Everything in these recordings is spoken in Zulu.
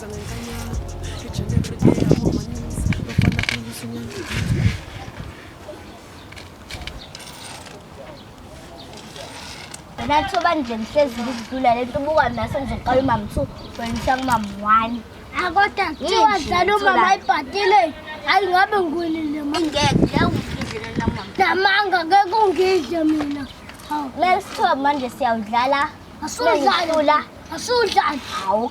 Wena thoba nje ngihlezi ngizidlula le nto ubuka naso nje qala umama two wengisa kumama one akoda kuthiwa dlala umama ayibhadile hayi ngabe ngwinile ngeke ungidlela mama namanga ngeke ungidle mina kumele sithobe manje siyawudlala asudlala asudlala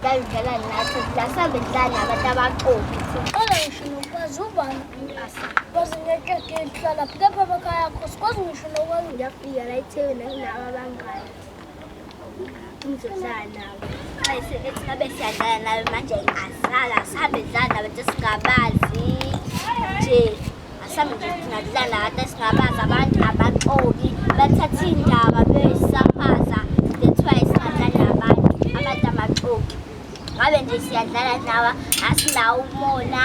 Ndazidlala nathi, lasambe ndidlala nabantu abaqobi. Qala ngisho nokwazi ubani umlasa. Kwazi ngekeke lihlala phi kepha emakhaya akho sikwazi ngisho nokwazi ngiyafika la eThekwini nginabo abangani. Ngizodlala nabo. Ayise ethi ngabe siyadlala nawe manje asala sihambe sidlala nabantu esingabazi nje. Asambe nje singadlala lana singabazi abantu abaxoki bathatha indaba beyisafaza that's why singadlali nabantu abantu abaxoki ngabe nje siyadlala nawe asinawo umona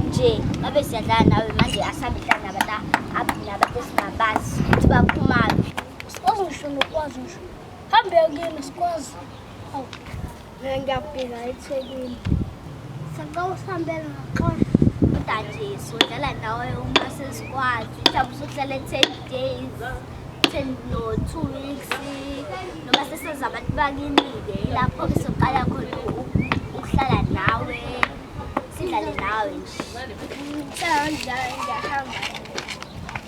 nje ngabe siyadlala nawe manje asambe dlala nabantu abantu nabantu esingabazi ukuthi baphumaphi sikwazi ngisho nokwazi ngisho hambe yokuyena sikwazi ngiyafika ethekwini sacela usihambele ngaxosha udajesu udlala ndawo uma sesikwazi mhlawumbe usuhlala ten days ten no two weeks noma sesenza abantu bakini-ke lapho ke soqala khona ukuhlala nawe sidlale nawe nje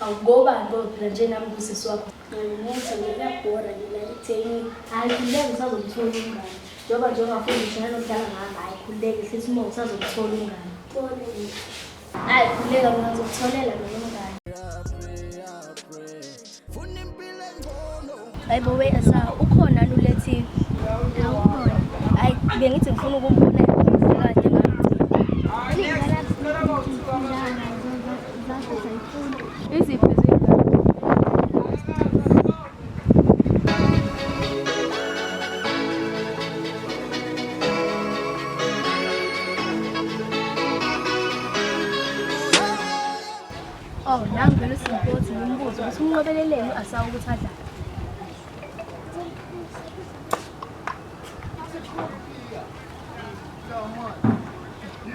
Awukoba ngoba phela nje nami kusisi wakho. Ngimuthi ngiyabhora mina itheni. Hayi kuleke usazomthola umngane. Njengoba nje ungafuni ngishona nokudlala ngami hayi khululeke hlisa umoya usazomthola umngane. Kone. Hayi khululeka mina ngizokutholela mina umngane. Hayibo we esa ukhona lulethi. Hayi bengithi ngifuna ukumbona kade Iziphi Oh, nangu vele uSimpoti ngimbuze ukuthi umnqobeleleni u-Asawu ukuthi adlale.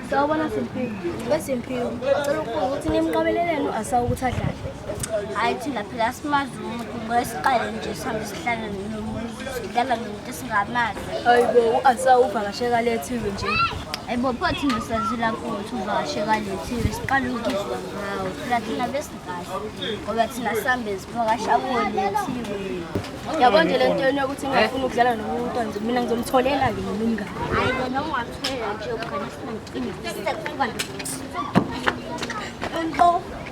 Sawubona Simphiwe. Besimphiwe, ngicela ukubuza ukuthi nimnqobeleleni u-Asawu ukuthi adlale. Hayi thina phela simazi umuntu ngoba siqale nje sihambe sihlangane nomuntu. sidlala nomuntu singamazi ayibo u-ansa uvakasheka lethiwe nje ayibo pho thina sazila kuthi uvakasheka lethiwe siqala ukuzwa ngawo phela thina besikahle ngoba thina sihambe sivakasha kuwo lethiwe yabo nje le nto yenu yokuthi ngingafuni ukudlala nomuntu nje mina ngizomtholela ke mina umngane hayi bona ungamtholela nje ugane sinamcimbi sekuba nto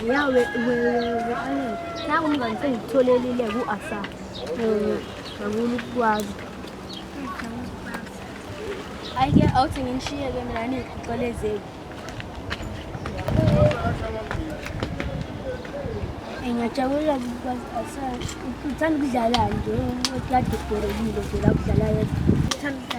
Ya we we we ale. Naku mngani sengitholelile ku Asa. Eh, ngakulu kwazi. Ayike awuthi nginishiye ke mina nikuxolezeli. Ngiyajabula kwazi Asa. Uthanda ukudlala nje, ukade ubhorekile nje la kudlala yedwa. Uthanda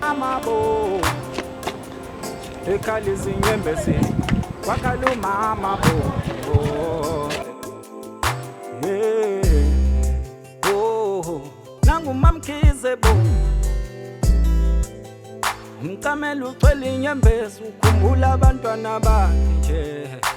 amabo ekhala izinyembezi kwakhala umama bo oh. yeah. oh. nangumamkhize bo mcamela ucwela inyembezi ukhumbula abantwana bakhe nje